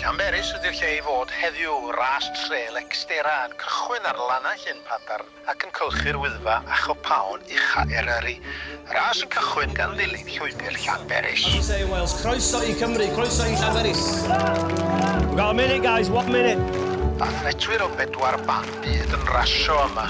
Llanberis ydy'r lle i fod heddiw, ras trêl Exterra yn cychwyn ar lannau Llyn Padarn ac yn cylchu'r Wyddfa a chopaon ucha Eryri. Y ras yn cychwyn gan ddilyn llwybr Llanberis. As we say in Wales, croeso i Cymru, croeso i Llanberis! We've got a minute guys, one minute! Athletwyr o bedwar ban byd yn rasio yma.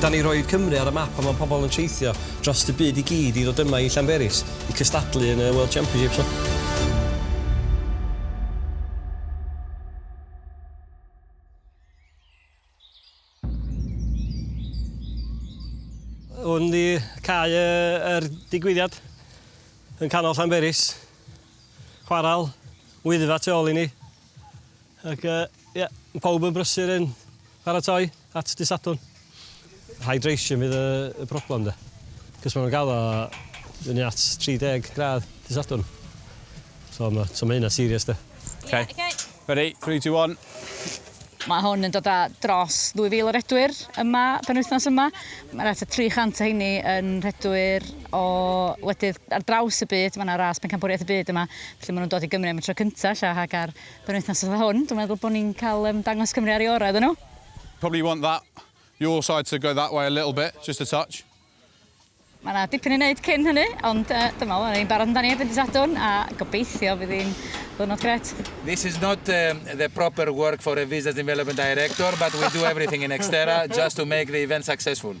Dan ni roid Cymru ar y map a mae pobl yn teithio drost y byd i gyd i ddod yma i Llanberis i cystadlu yn y World Championships. Hwn di cae yr digwyddiad yn canol Llanberis. Chwaral, Wyddfa tu ôl i ni. Ac uh, yeah, pawb yn brysur yn paratoi at dy Sadwrn. Hydration fydd y, y problem de. Cys maen nhw'n gael o fyny at 30 gradd dy Sadwrn. So mae so ma hynna serious de. Okay. Yeah, okay. Ready, 3, 2, 1. Mae hwn yn dod â dros 2,000 o redwyr yma, penwythnos yma. Mae rhaid 300 o heini yn redwyr o wledydd ar draws y byd, mae yna ras pencampwriaeth y byd yma, felly maen nhw'n dod i Gymru am y tro cyntaf ella, ac ar benwythnos fatha hwn, dwi'n meddwl bod ni'n cael um, dangos Cymru ar ei orau iddyn nhw. Probably want that, your side to go that way a little bit, just a touch. Mae yna dipyn i wneud cyn hynny, ond uh, dwi'n meddwl, ni'n barod amdani erbyn dydd Sadwrn, a gobeithio fydd hi'n ddwrnod gret. This is not um, the proper work for a business development director, but we do everything in Xterra just to make the event successful.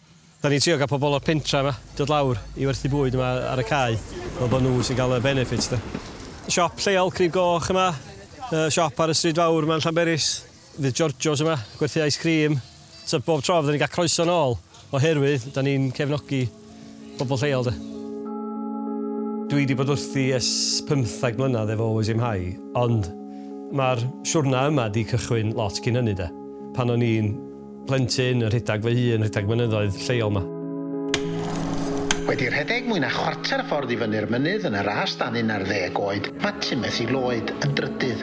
Dan ni'n trio cael pobl o'r pentref 'ma dod lawr i werthu bwyd yma ar y cae fel bod nhw sy'n cael y benefits 'de. Siop lleol Crib Goch yma, yy siop ar y stryd fawr 'ma yn Llanberis, fydd Giorgio's yma, gwerthu ice cream, so bob tro fydden ni'n cael croeso nôl oherwydd dan ni'n cefnogi pobl lleol 'de. Dwi 'di bod wrthi ers pymtheg mlynedd efo Always Aim High ond ma'r siwrna yma 'di cychwyn lot cyn hynny 'de, pan o'n i'n Plentyn yn rhedeg fy hun rhedeg mynyddoedd lleol 'ma. Wedi rhedeg mwy na chwarter ffordd i fyny'r mynydd yn y ras dan un ar ddeg oed, mae Timothy Lloyd yn drydydd.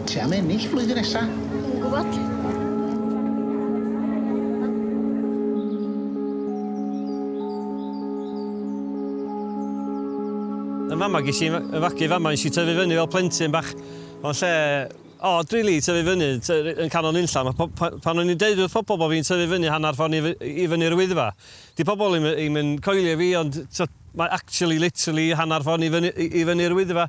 Ti am ennill flwyddyn nesa? Dwi'm yn gwybod. Yn fama ges i fy fagu fama, nes i tyfu fyny fel plentyn bach mewn lle Od rili, tyfu fyny, yn canol nunlla. Mae pob... pan o'n i'n deud wrth pobl bod fi'n tyfu fyny hanner ffordd i fy- i fyny'r Wyddfa, 'di pobl ddim ddim yn coelio fi, ond tibod, mae actually literally hanner ffordd i fyny- i i fyny'r Wyddfa.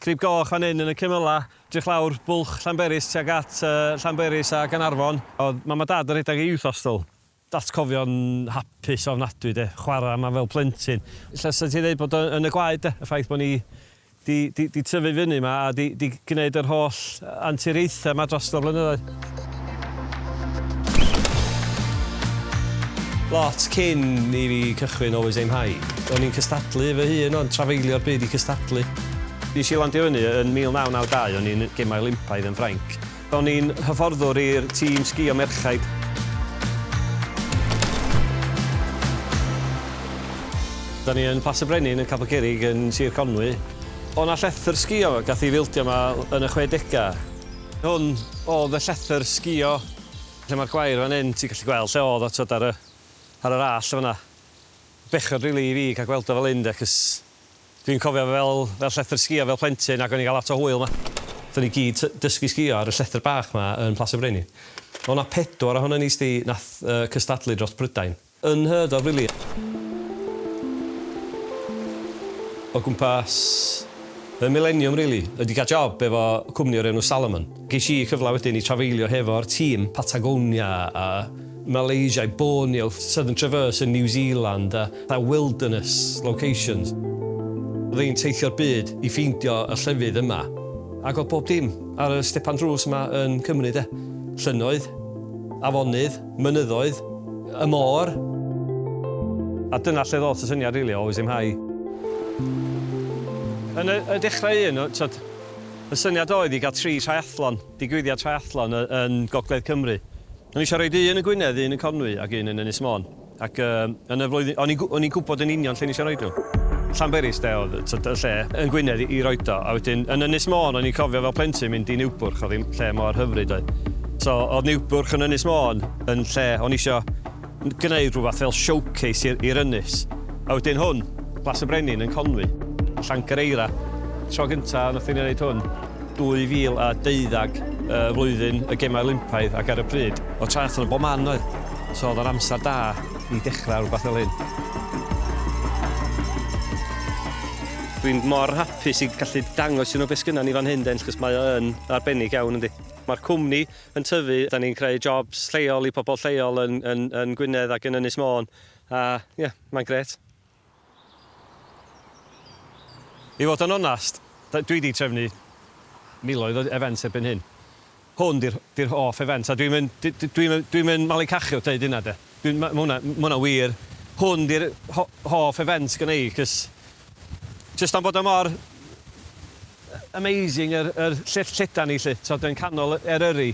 Crib Goch fan hyn yn y cymylau, edrych lawr Bwlch Llanberis tuag at yy Llanberis a Gaernarfon. Oedd mam a dad yn rhedeg y Youth Hostel. Atgofion hapus ofnadwy de, chwarae yma fel plentyn. Ella 'sa ti'n dweud bod o yn y gwaed de, y ffaith bod ni 'di 'di 'di tyfu fyny yma a 'di 'di gwneud yr holl anturiaethau yma dros y blynyddoedd. Lot cyn i fi cychwyn Always Aim High. O'n i'n cystadlu fy hun ond trafeilio'r byd i cystadlu. Nes i landio fyny yn 1992, o'n i'n Gemau Olympaidd yn Ffrainc. Ro'n i'n hyfforddwr i'r tîm sgïo merchaid. Da ni yn Plas y Brenin yn Capel Cerrig yn Sir Conwy. O' 'na llethr sgïo gath i filddio 'ma yn y chwedegau. Hwn oedd y llethr sgïo lle mae'r gwair fan hyn, ti'n gallu gweld lle oedd o twod ar y ar yr allt yn fan'na. Bechod rili i fi cael gweld o fel hyn de, cos Dwi'n cofio fel fel llethr sgïo fel plentyn ac o'n i'n cael lot o hwyl 'ma. Aethon ni gyd t- dysgu sgïo ar y llethr bach 'ma yn Plas y Brenin. O' 'na pedwar ohonon ni 'sdi nath yy cystadlu dros Prydain. Unheard of rili. O gwmpas y mileniwm rili. Wedi cael job efo cwmni o'r enw Salomon. Ges i cyfle wedyn i trafeilio hefo'r tîm Patagonia a Malaysia i Borneo, Southern Traverse yn New Zealand a fatha wilderness locations. Oedd hi'n teithio'r byd i ffeindio y llefydd yma ac oedd bob dim ar y stepan drws yma yn Cymru de. Llynnoedd, afonydd, mynyddoedd, y môr. A dyna lle ddoth y syniad rili o Oes Im High. Yn y dechrau un, t'od, Y syniad oedd i gael tri triathlon, digwyddiad triathlon, yn Gogledd Cymru. O'n i eisiau rhoi un yn Gwynedd, un yn Conwy ac un yn Ynys Môn. Ac yn y flwyddyn... o'n i'n... o'n i'n gwybod yn union lle o'n i eisiau rhoi nhw. Llanberis de oedd tibod y lle yn Gwynedd i roi o. A wedyn yn Ynys Môn o'n i'n cofio fel plentyn mynd i Niwbwrch, oedd hi'n lle mor hyfryd doedd. So oedd Niwbwrch yn Ynys Môn yn lle o'n i eisiau... gwneud rhywbeth fel showcase i'r i'r ynys. A wedyn hwn, Plas y Brenin yn Conwy, Llangyreira. Tro gynta nathon ni wneud hwn, 2012, yy flwyddyn y Gemau Olympaidd ac ar y pryd, o'dd triathlon bob man doedd? So o'dd o'n amser da i dechra rwbath fel hyn. Dwi'n mor hapus i gallu dangos i nw be' sgynnon ni fan hyn 'de achos mae o yn arbennig iawn yndi? Ma'r cwmni yn tyfu, dan ni'n creu jobs lleol i pobl lleol yn yn yn Gwynedd ac yn Ynys Môn a ie, mae'n grêt. I fod yn onast, dwi 'di trefnu miloedd o events erbyn hyn. Hwn 'di'r 'di'r hoff event a dwi'm yn d- d- dwi'm yn dwi'm yn malu cachu wrth ddeud hynna de. Dwi'n ma' ma' hwnna ma' hwnna'n wir. Hwn 'di'r ho- hoff event gynna i 'c'os jyst am bod o mor Amazing yr yr llyfr llydan ni 'lly t'od yn canol Eryri.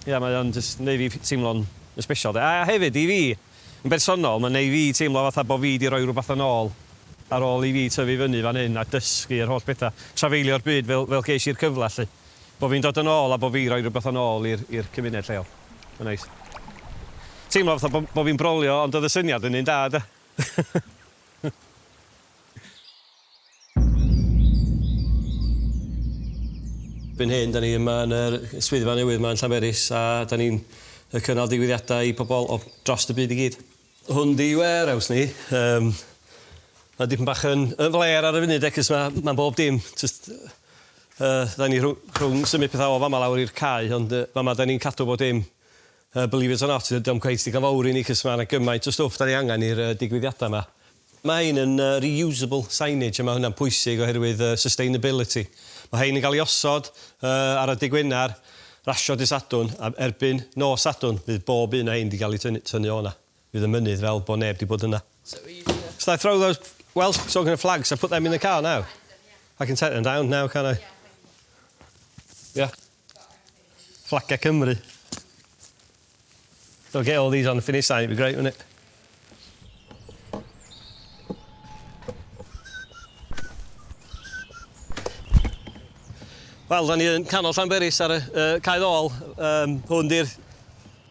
Ia mae o'n jyst yn neu' fi teimlo'n yn sbesial 'de. A hefyd i fi yn bersonol ma'n neu' fi teimlo fatha bo' fi 'di roi rwbath yn ôl ar ôl i fi tyfu fyny fan hyn a dysgu yr holl betha, trafeilio'r byd fel fel gesh i'r cyfle 'lly. Bo' fi'n dod yn ôl a bo' fi roi rwbath yn ôl i'r i'r cymuned lleol. Ma'n neis. Teimlo fatha bo' bo' fi'n brolio ond o'dd y syniad yn un da 'de? Erbyn hyn, da ni yma yn yr swyddfa newydd yma yn Llanberis a da ni'n cynnal digwyddiadau i pobl o dros y byd i gyd. Hwn 'di warehouse ni. Yym mae dipyn bach yn flêr ar y funud de 'c'os ma' ma' bob dim jyst yy da ni rhw- rhwng symud petha o fama lawr i'r cae ond yy fama da ni'n cadw bob dim Yy believe it or not dydi o'm cweit digon fowr i ni cys ma' 'na gymaint o stwff 'dan ni angan i'r yy digwyddiada 'ma. Ma' hein yn yy reusable signage a ma' hwnna'n pwysig oherwydd yy sustainability. Ma' hein yn ga'l 'i osod yy ar y dy' Gwenar rasio dy' Sadwrn a erbyn nos Sadwrn fydd bob un o hein 'di ga'l 'i tynnu tynnu o'na. Fydd y mynydd fel bo' neb 'di bod yna. So easy then. So I throw those Welsh talking of flags I put them in the car now? I can take them down now can I? Yeah. Fflagiau Cymru. They'll get all these on the finish sign, it'd be great, wouldn't it? Wel, da ni yn canol Llanberis ar y uh, cae ddol. Um, hwn di'r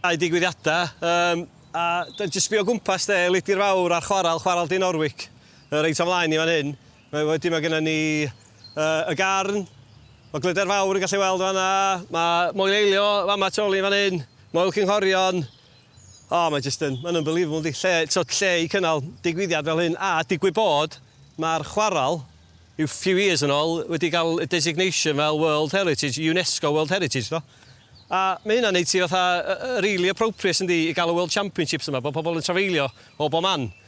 cae digwyddiadau. Um, a da ni jyst sbio gwmpas de, Lidi'r Fawr a'r chwaral, chwaral Dyn Orwic, uh, reit o'n flaen ni fan hyn. Mae wedi mae gennym ni yy y Garn, mae Glyder Fawr yn gallu weld fan'na, mae Moel Eilio fama tu ol i fan 'yn, Moel Cynghorion, o mae jyst yn ma'n unbelievable yndi? Lle t'od lle i cynnal digwyddiad fel hyn a digwydd bod ma'r chwarel ryw few years yn ol wedi ga'l y designation fel World Heritage, UNESCO World Heritage do? A ma' hynna'n neud ti fatha yy yy rili appropriate yndi i ga'l y World Championships yma bo' pobol yn trafeilio o bo man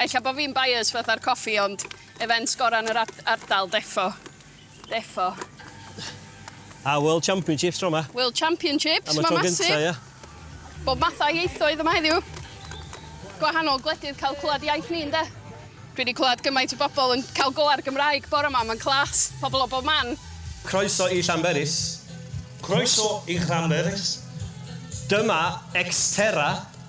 Ella bo fi'n biased fatha'r coffi ond events gora'n yr ardal defo. Defo. A World Championships tro 'ma. World Championships, ma' massive. Am y tro gynta, ia. Bob math o ieithoedd yma heddiw. Gwahanol gwledydd cael clwad iaith ni ynde? Dwi 'di clwad gymaint o bobl yn cael go ar Gymraeg bore 'ma, ma'n class. Pobl o bob man. Croeso i Llanberis. Croeso i Llanberis. Dyma Xterra.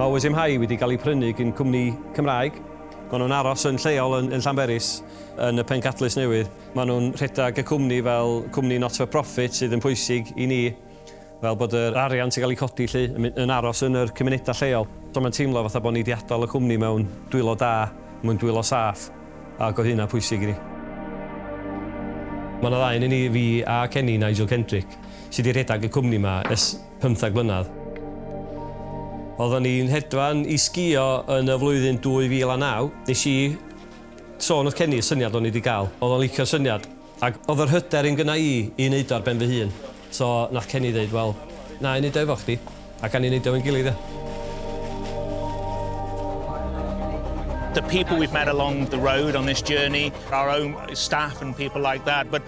Mae Oes MHi wedi cael ei prynu gin cwmni Cymraeg. Maen nhw'n aros yn lleol yn yn Llanberis, yn y Pencadlys Newydd. Maen nhw'n rhedeg y cwmni fel cwmni not for profit sydd yn pwysig i ni, fel bod yr arian sy'n cael ei codi 'lly yn mynd yn aros yn yr cymunedau lleol. So mae'n teimlo fatha bod ni 'di adael y cwmni mewn dwylo da, mewn dwylo saff, ac oedd hynna'n pwysig i ni. Mae 'na ddau ohonyn ni, fi a Kenny, Nigel Kendrick, sy' 'di rhedeg y cwmni 'ma ers 15 mlynedd. Oedden ni'n hedfan i sgïo yn y flwyddyn 2009. Nes i sôn wrth Kenny y syniad o'n i 'di gael. Oedd o'n licio'r syniad. Ac oedd yr hyder un gynna i i wneud o ar ben fy hun. So nath Kenny ddeud, wel, na i neud o efo chdi. A gawn ni neud o efo'n gilydd ia? The people we've met along the road on this journey, our own staff and people like that, but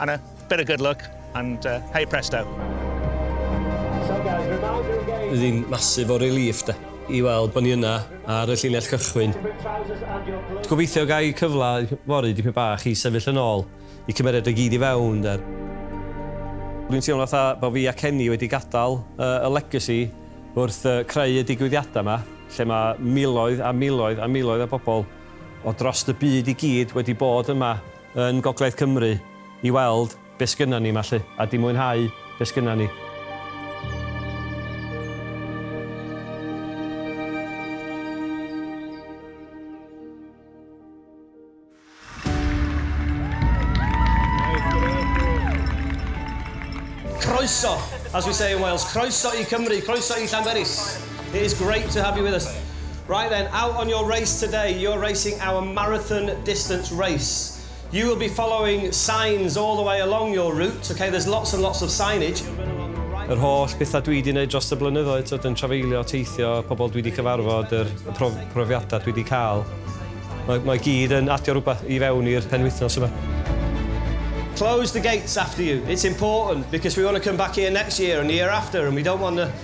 And a bit of good luck and hey presto. Bydd hi'n massive o relief de, i weld bod ni yna ar y llinell cychwyn. Gobeithio gai y cyfle fory dipyn bach i sefyll yn ôl, y cymeriad i gyd i fewn de. Dwi'n teimlo fatha bod fi a Kenny wedi gadael y legacy wrth creu y digwyddiadau yma, lle mae miloedd a miloedd a miloedd o bobl o dros y byd i gyd wedi bod yma. yn Gogledd Cymru i weld beth sgynnon ni 'ma 'lly a 'di mwynhau beth sgynnon ni. Croeso, as we say in Wales, croeso i Cymru, croeso i Llanberis. It is great to have you with us. Right then, out on your race today, you're racing our marathon distance race. You will be following signs all the way along your route, okay, there's lots and lots of signage. Yr holl bethau dwi wedi gwneud dros y blynyddoedd, tyd, yn trafeilio, teithio, pobl dwi wedi cyfarfod, yr prof, profiadau dwi wedi cael, mae, mae gyd yn adio rhywbeth i fewn i'r penwythnos yma. Close the gates after you. It's important because we want to come back here next year and the year after and we don't want to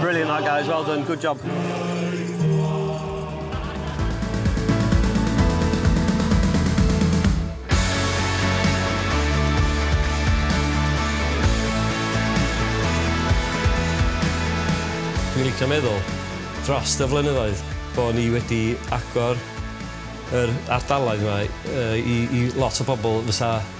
Brilliant that guys, well done, good job. Dwi'n licio meddwl, drost y flynyddoedd, bo' ni wedi agor yr ardaloedd 'ma yy i i lot o bobl fysa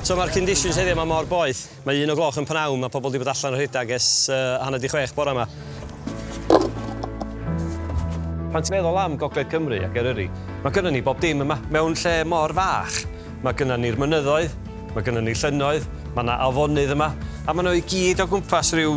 So mae'r conditions heddiw yma mor boeth. Mae un o gloch yn pnawn, mae pobl wedi bod allan o rhedeg ers uh, hanner di chwech bore yma. Pan ti'n meddwl am Gogledd Cymru ac Eryri, mae gynnon ni bob dim yma. Mewn lle mor fach, mae gynnon ni'r mynyddoedd, mae gynnon ni llynnoedd, mae yna afonydd yma, a maen nhw i gyd o gwmpas rhyw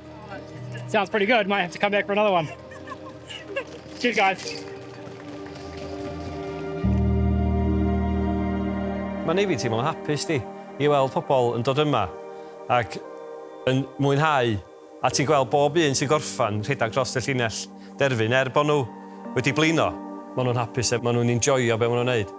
Sounds pretty good. Might have to come back for another one. Cheers, guys. Mae'n ei fi teimlo'n hapus di i weld pobl yn dod yma ac yn mwynhau a ti'n gweld bob un sy'n gorffan rhedeg dros y llinell. derfyn er bod nhw wedi blino. Maen nhw'n hapus a maen nhw'n enjoio be maen nhw'n neud.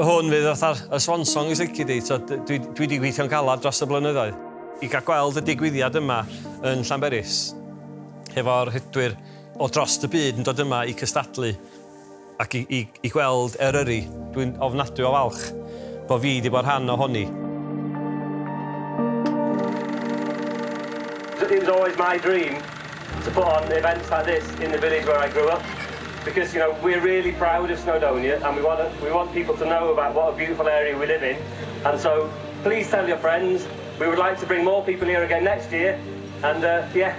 Hwn fydd fatha'r y swan song os lici di, so dwi dwi di gweithio'n galad dros y blynyddoedd. I gael gweld y digwyddiad yma yn Llanberis hefo'r rhedwyr o drost y byd yn dod yma i cystadlu, Ac i, i, i gweld Eryri. Dwi'n ofnadwy o falch bo fi di bod rhan o honi. It was always my dream to put on events like this in the village where I grew up because you know we're really proud of Snowdonia and we want to, we want people to know about what a beautiful area we live in and so please tell your friends we would like to bring more people here again next year and uh, yeah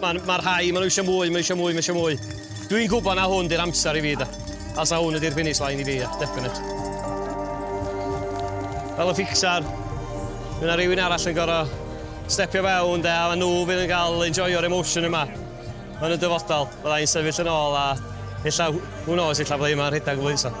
Ma' ma' rhai, ma' nhw eisiau mwy, ma' eisiau mwy, ma' eisiau mwy. Dwi'n gwybod na hwn di'r amser i fi, da. A sa hwn ydy'r finish line i fi, yeah, definite. Fel y fixar, mae yna rhywun arall yn gorau stepio fewn, de, a nhw fydd yn cael enjoyo'r emotion yma yn y dyfodol. Bydda i'n sefyll yn ôl a illa, who knows, illa bydda i yma'n rhedeg y flwyddyn